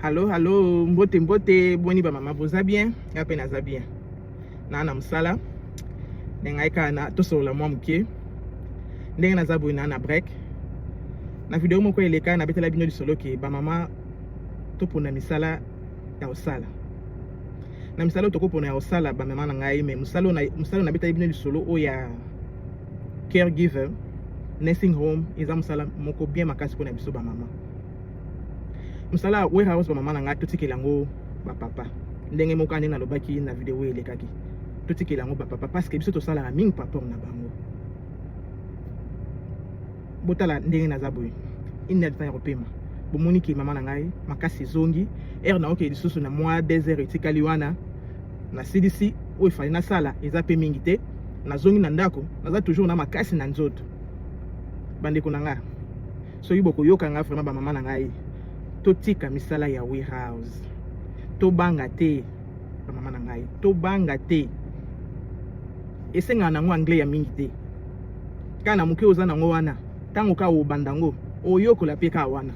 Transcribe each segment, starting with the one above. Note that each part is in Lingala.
Halo halo, mbote mbote, boni ba mama boza bien? Nga pe naza bien. Na na musala. Ndenge ngai kaka na tosolola mwa moke. Ndenge naza boye na na break. Na video moko eleka nabetela bino lisolo ke ba mama topona misala ya kosala. Na misala oyo tokopona ya kosala ba mama na ngai me mosala oyo mosala oyo nabeteli bino lisolo oyo ya caregiver nursing home eza mosala moko bien makasi mpona biso bamama mosala ya warehouse bamama na ngai totikela yango bapapa ndenge moko ane nalobaki na video oyo elekaki totikela yango bapapa parceke biso tosalaka mingi paraport na bango botala ndenge naza boye inadtan ya kopema bomoni ke mama na ngai makasi ezongi heure naoke lisusu na mwa deux heures etikali wana nasilisi oyo efali nasala eza mpe mingi te nazongi na ndako naza toujours na makasi na nzoto bandeko na ngai soki bokoyoka nga vraiment ba mama na ngai totika misala ya warehouse tobanga te ba mama na ngai tobanga te esengaka nango anglais ya mingi te kaka na moke oza nango wana ntango kaka obanda yango oyokola mpe kaka wana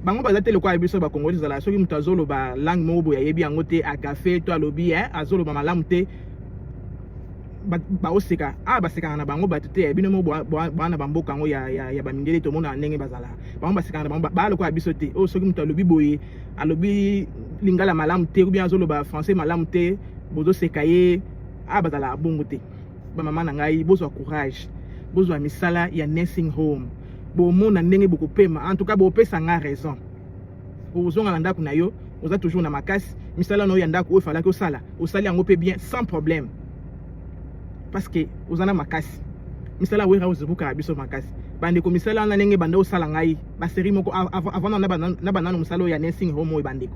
bango baza te lokola biso bakongoli ezala soki moto azoloba langue moko boye ayebi yango te agafe to alobi eh, azoloba malamu te baoseka awa ah, basekana na bango bato te bino mo bwana bamboka yango ya bamindele tomonaka ndenge bazalaka bango basekana na bango baa lokola biso te oyo oh, soki moto alobi boye alobi lingala malamu te obi azoloba français malamu te bozoseka ye awa ah, bazalaka bongo te bamama na ngai bozwa courage bozwa misala ya nursing home bomona ndenge bokopema en tout cas bopesa ngai raison okozonga na ndako na yo oza toujours na makasi misala na yo ya ndako oyo falaki osala osali yango mpe bien sans problème parce que oza na makasi misala wera ozobukaka biso makasi bandeko misala wana ndenge banda osala ngai baserie moko avant na banano mosala oyo ya nursing home oyo bandeko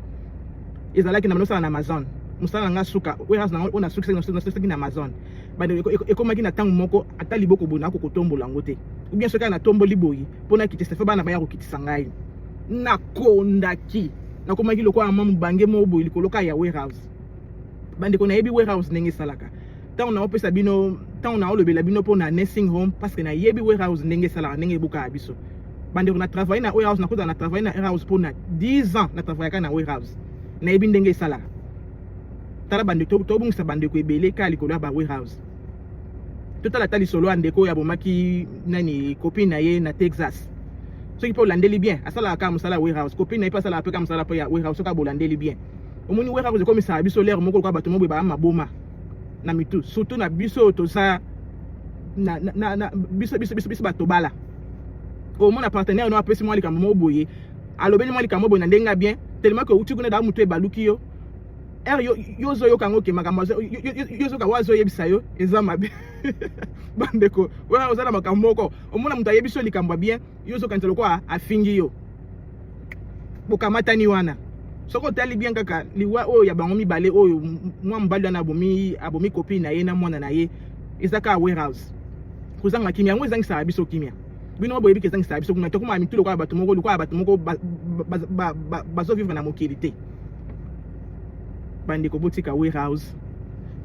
ezalaki na banda osala na amazon mosala na ngai suka wera na ngai oyo nasukisaki na amazon bandeko ekomaki na ntango moko ata liboko boye nakokotombola yango te ou bien soki natomboli boye mpo nakitisa fe bana baya kokitisa ngai nakondaki nakomaki lokola mwa mobange moko boye likolo kaka ya warehouse bandeko nayebi warehouse ndenge esalaka ntango naopesa bino ntango naolobela bino mpo na nursing home parce que nayebi warehouse ndenge esalaka ndenge ebukaka biso bandeko na travaille na warehouse nakota na travaille na warehouse mpo na 10 ans na travaillaka na warehouse nayebi ndenge esalaka tala bandeko tobungisa bandeko ebele kaka likolo ya ba warehouse totala ata lisolo ya ndeko oyo abomaki nani copine na ye na texas soki mpe olandeli bien asalaka kaka mosala ya warehouse copine na ye mpe asalaka mpe kaka mosala mpe ya warehouse soki abolandeli bien omoni warehouse ekomisaka biso lere moko lokola bato moboye baa maboma na mitu surtout na biso oyo toza na, na, na, na, biso, biso, biso, biso bato bala omona partenaire no apesi mwa likambo moko boye alobeli mwa likambo boye na ndenge ya bien tellement ke outi kuna daa motu ebaluki yo er yo yo ozoyoka yango ke makambo yo ozoka oyo azoyebisa yo eza mabe bandeko wana oza na makambo moko omona moto ayebisi yo likambo ya bien yo ozokanisa lokola afingi yo bokamatani wana soki otali bien kaka liwa oyo ya bango mibale oyo mwa mobali wana abomi abomi kopine na ye na mwana na ye eza kaka warehouse kozanga kimia yango ezangisaka biso kimia bino boyebi ke ezangisaka biso kuna tokomaka mitu lokola bato moko lokola bato moko bazovivre na mokili te bandeko botika warehouse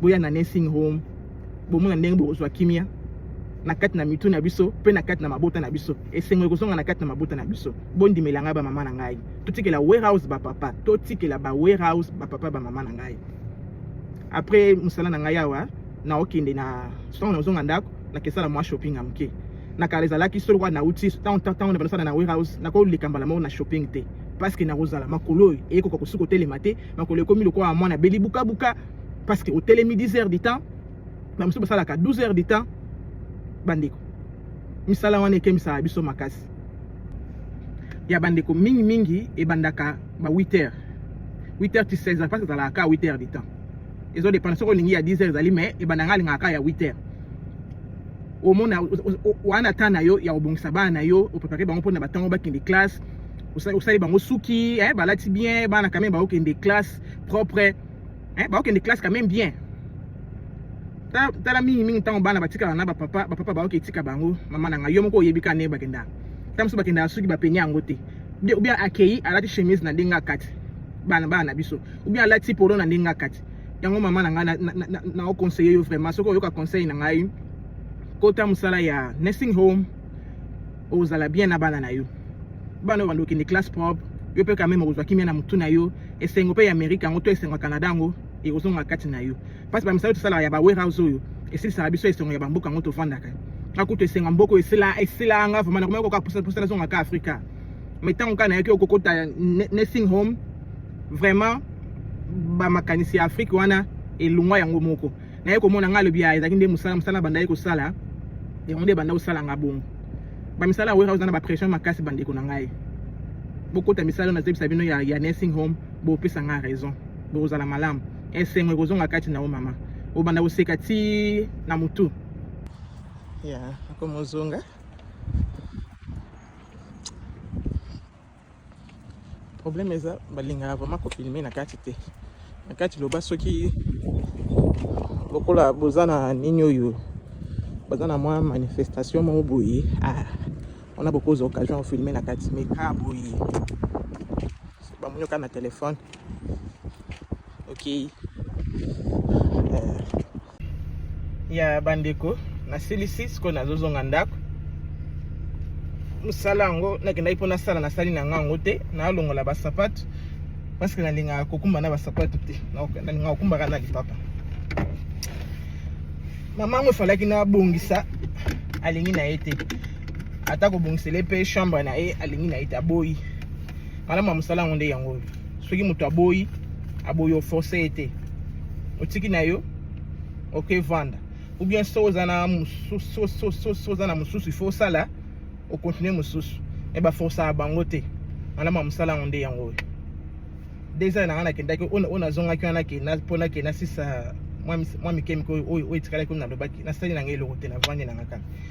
boya na nursing home bomona ndenge bokozwa kimia na kati na mitu na biso mpe na kati na mabota na biso esengo ekozonga na kati na mabota na biso bondimela ngai bamama na ngai totikela warehouse bapapa totikela ba warehouse bapapa bamama na ngai après mosala na ngai awa naokende na ntango nazonga ndako nakesala mwa shopping ya moke na kala ezalaki solo wana nauti ntango na banosana na warehouse nakoleka mbala moko na shopping te parceke nakozala makolo oyo eyekoka kosi kotelema te makolo ekomi lokola mwana beli bukabuka parceke otelemi 10 heures du temps bamosusu basalaka 12 heures du temps bandeko misala wana ekemisaka biso makasi ya bandeko mingimingi ebandaka ba 8 heures 8 heures ti 16 heures parce ezalaka 8 heures du temps ezo dépendre soki olingi ya 10 heures ezali mais ebanda ngai alingaka kaka ya 8 heures omona wana temps na yo ya kobongisa bana na yo oprepare bango mpona batango bakende classe osali bango suki eh, balati bien bana quand même bakokende classe propre eh, bakokende classe quand même bien tala mingi mingi ntango bana batikala na bapapa bapapa bayoki etika bango mama na ngai yo moko oyebi ka ndenge bakendaka ntango mosusu bakendaka soki bapeni yango te ou bien akei alati chemise na ndenge akati bana bana na biso ou bien alati polo na ndenge akati yango mama na ngai naoconseille yo vraiment soki oyoka conseil na ngai kota mosala ya nursing home ozala bien na bana na yo bana oyo bandokende classe propre yo mpe kameme okozwa kimia na motu na yo esengo mpe ya amerika yango to esengo ya canada yango ekozonga kati na yo mpasi bamisala oyo tosalaka ya ba warehouse oyo esilisaka biso esengo ya bamboka yango tofandaka akutu esenga mboko esila esila nga vraiment nakomaki koka pusala zonga ka afrika mai ntango kaka nayaki okokota nursing home vraiment ba makanisi ya Afrique wana elongwa yango moko naye komona ngai alobi ah, ezalaki nde mosala mosala bandaki kosala yango nde banda kosala nga bongo bamisala ya warehouse na bapression makasi bandeko na ngai bokota misala oyo nazebisa bino ya, ya nursing home bopesa ngai raison bokozala malamu esengo ekozonga kati na yo mama obanda koseka ti na motu ya akomozonga problème eza balingaka vraiment kofilme na kati te na kati loba soki lokola boza na nini oyo baza na mwa manifestation moko boye ah, wana bokozwa occasion ya filme na kati mais ka boye bamoni oka na telefone okei okay. ya bandeko nasilisi sikoyo nazozonga ndako mosala yango nakendaki mpo nasala nasali na nga yango te nalongola basapatu parceke nalingaka kokumba na basapatu te nalingaka kokumbaka na lipapa mama yango efalaki nabongisa alingi na ye te ata kobongisele mpe chambre na ye alingi na ye te aboyi malamu ya mosala yango nde yango oyo soki moto aboyi aboyi oforce ye te otiki na yo oke vanda ou bien so oza na mosusu so oza na mosusu ifo osala okontinue mosusu me baforsaka bango te malama mosala yango nde yango oyo deux ans na nga nakendaki oyo nazongaki wana mpo nake nasisa mwa mike mike oyo etikalaki oyo nalobaki nasali na ngai eloko te na vandi na nga kaka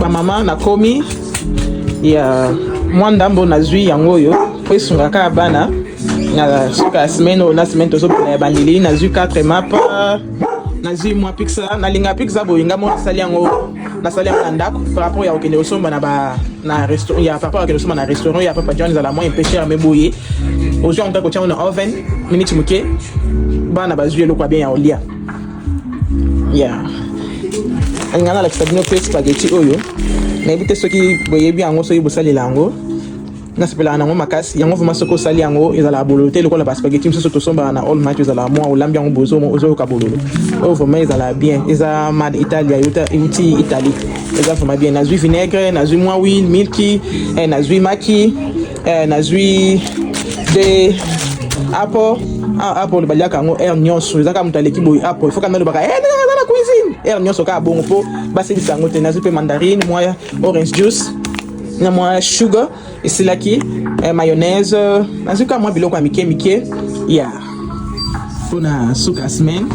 bamama nakomi ya mwa ndambo nazwi yango oyo mpo esungaka bana na suka ya semaine oyo na semaine tozobela ya bandeli nazwi 4 mapa nazwi mwa pixa nalinga pixa boye nga moko nasali yango nasali yango na ndako par rapport ya kokende kosomba na ba na restaurant ya papa kokende kosomba na restaurant ya papa john ezala moyen pesher me boye ozwi yango kaka kotya yango na oven miniti moke bana bazwi eloko ya bien ya kolia ya yeah. alinga nalakisa bino mpe spageti oyo nayebi te soki boyebi yango soki bosalela yango nasepelaka nango makasi yango vraimen soki osali yango ezalaka bololo te lokola baspageti mosusu tosombaka na all match ezalaka mwa olambi yango bozo ozoyoka bololo oyo vraimen ezalaka bien eza mad italia euti italie eza vraimen bien nazwi vinaigre nazwi mwa wil milki eh, nazwi maki eh, nazwi de apo ah, apo oyo baliaka yango heure nyonso eza kaka moto aleki boye apo ifoka nde olobaka eh, aza na cuisine heure nyonso kaka bongo mpo basilisa yango te nazwi mpe mandarine mwa orange juice na mwa sugar esilaki eh, mayonnaise nazwi kaka mwa biloko ya mike mike ya yeah. mpo na suka semaine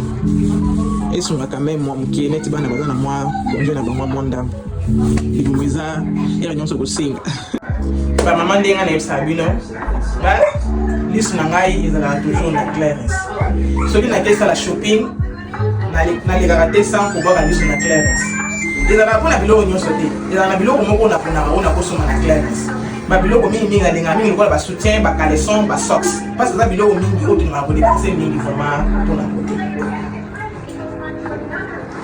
esungaka meme mwa moke neti bana baza na mwa konje na bango mwa ndambo libumu eza heure nyonso kosenga bamama ndenge nayebisaka bino lisu na ngai ezalaka toujours na clairens soki nake sala shopping nalekaka te sans kobwaka lisu na clairens ezalaka mpo na biloko nyonso te ezalaka na biloko moko naponaka oyo nakosoma na clairens babiloko mingi mingi nalingaka mingi lokola basoutien bacaleson basox mpasi eza biloko mingi oyo tolingaka kodepense mingi vraiment mpona kote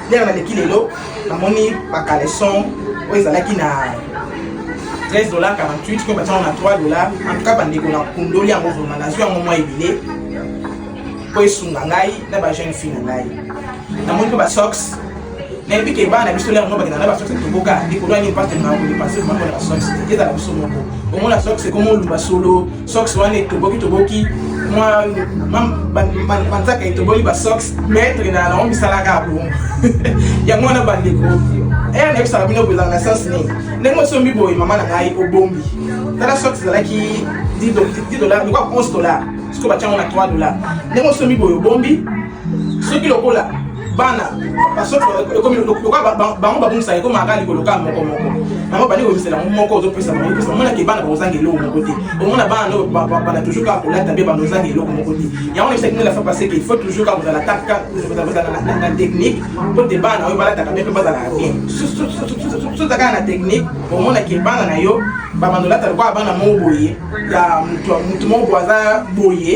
ndenge baleki lelo namoni bacaleson oyo ezalaki na 13 dollar 48 koyo batiango na 3 dollar en tout cas bandeko na kundoli yango vrema nazwi yango mwa ebele mpo esunga ngai na bajeune fille na ngai namoni mpe basox nayebi ke bana biso lelo yango bakenda na basox toboka likolo ya nini mpasi tolingaka kodepanse vrema mpona basox te ezala biso moko omona sox ekoma oluba solo socks wana etoboki toboki mwa manzaka etoboli basocks maître na yango misala kaka bongo yango wana bandeko ere eh, nayebisaka bino boye ezalaka na sense nini ndenge osombi boye mama na ngai obombi tala socks ezalaki 10 dollar lokola 11 dollar sikoyo batyango na 3 dollar ndenge osombi boye obombi soki lokola bana ekomi lokola bango babungisaka ekomi aka likolo kaka moko moko bango bandi kobisela yango moko ozopesa bango epesa omonaka ebana bakozanga eloko moko te omona bana no bana toujours kaka kolata mpe bana ozanga eloko moko te yango na bisaki nela fa parce que il faut toujours kaka kozala kaka kozala na technique mpo te bana na yo balataka mpe mpe bazalaka bien soza kaka na technique omona ke bana na yo babanda olata lokola bana moko boye ya motu moko boye aza boye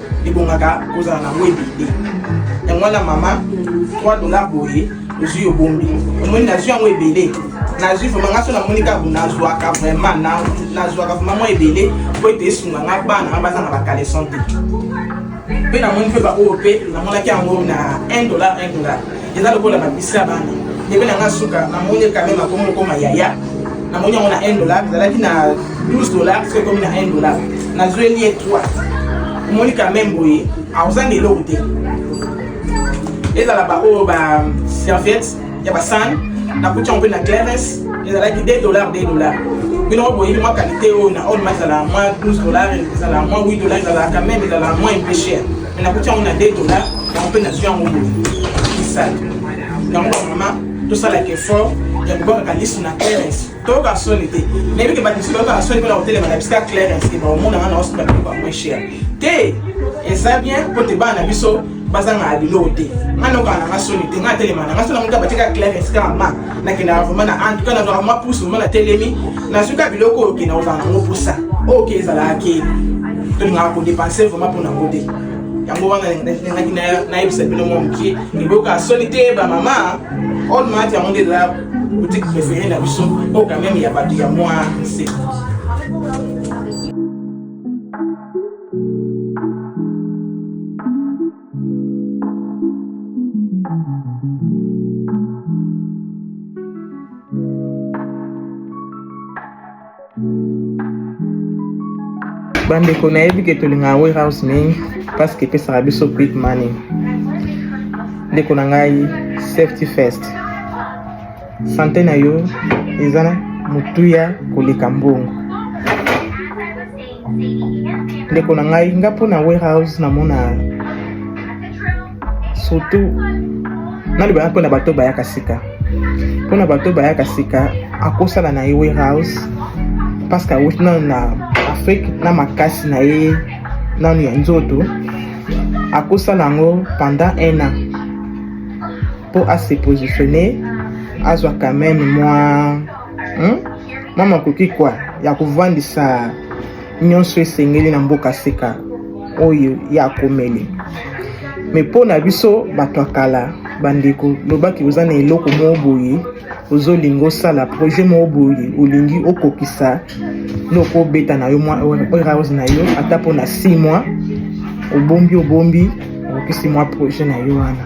ebongaka kozala na ngo ebende yango wana mama 3 dollar boye ozwi obombi omoni nazwi yango ebele nazwi vraimen nga so namoni kaka nazwaka vraimen nazwaka vraimen mwa ebele mpo ete esunga nga bana nga baza na bakaleson te mpe namoni mpe baoyo mpe namonaki yango na 1 dollar 1 dollar eza lokola babisa bana ndebe na nga suka namoni kame makomi okoma yaya namoni yango na 1 dollar ezalaki na 12 dollar soki ekomi na 1 dollar nazweli ye 3 omoni kame boye akozanga eloko te ezala baoyo ba serviette ya basane nakuti yango mpe na clares ezalaki 2 dollar 2 dollar bino moko boyebi mwa qualité oyo na olma ezala mwa 12 dollar ezala mwa 8 dollar ezala quand même ezala mwa un peu cher mais nakuti yango na 2 dollars yango mpe nazwi yango boye kisala yango bamama tosalaka effort ya kobakaka lisu na clarence toyoka soni te nayebi ke bato mosusu bayokaka soni mpona kotelema na bisika clarence te baomona nga na oso bakoko moins cher te eza bien mpo te bana na biso bazanga biloko te nga nokana na nga soni te nga atelema na nga so na moto abatika clarence kaka ma nakendaka vraimen na en tout cas nazwaka mwa pousse vraimen na telemi nazwi ka biloko oyo okenda kozala nango mposa oyo ke ezalaka ke tolingaka kodepense vraimen mpo na ngo te yango wana nalingaki nayebisa bino mwa moke eboyoka soni te bamama oyo maati yango nde ezala boutique préféré na biso oyo quand même ya bato ya mwa se bandeko nayebi ke tolingaka warehouse mingi parce que epesaka biso quick money ndeko na ngai safety first sante na yo eza motuya koleka mbongo ndeko na ngai nga mpo na warehouse namona surtout nalobaka mpo na bato bayaka sika mpo na bato bayaka sika akosala na ye warehouse parce que awuti nano na afrique na makasi na ye nano ya nzoto akosala yango pendant un an mpo ase positionne azwa quand même mwa hmm? mama koki kwa ya kovandisa nyonso esengeli na mboka sika oyo ya komeli me mpo na biso bato ya kala bandeko lobaki oza na eloko moko boye ozolinga osala projet moko boye olingi okokisa loko obeta na yo mwa warehouse na yo ata mpo na 6 mois obombi obombi okokisi mwa projet na yo wana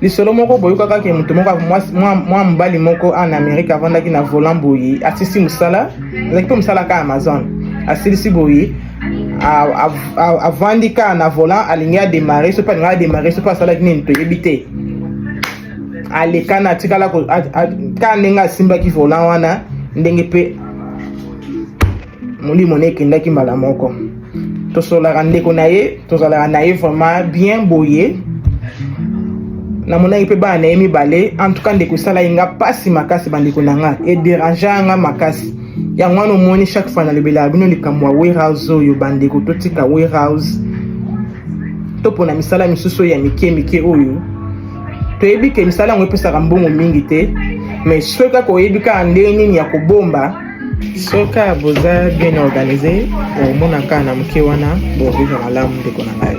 lisolo moko boyokaka ke moto moko mwa mobali moko en amérique avandaki na volant boye asisi mosala ezalaki mpe mosala ka amazon asilisi boye avandi ka na volant alingi ademare soki alingi ademare soki asalaki nini toyebi te alekana atikala ka ndenge asimbaki volant wana ndenge mpe molimo na ekendaki mbala moko tosolaka ndeko na ye tozalaka na ye vraiment bien boye namonaki mpe bana na ye mibale antuka ndeko esalaki nga mpasi makasi bandeko na nga ederangea nga makasi yango wana omoni chaque fois nalobelaka bino likambo ya warehouse oyo bandeko totika warehouse topona misala misusu ya mike mike oyo toyebi ke misala yango epesaka mbongo mingi te mais soki kaka oyebi kaka ndenge nini ya kobomba soka boza bien organise omonaka na moke wana bovivre malamu ndeko na ngai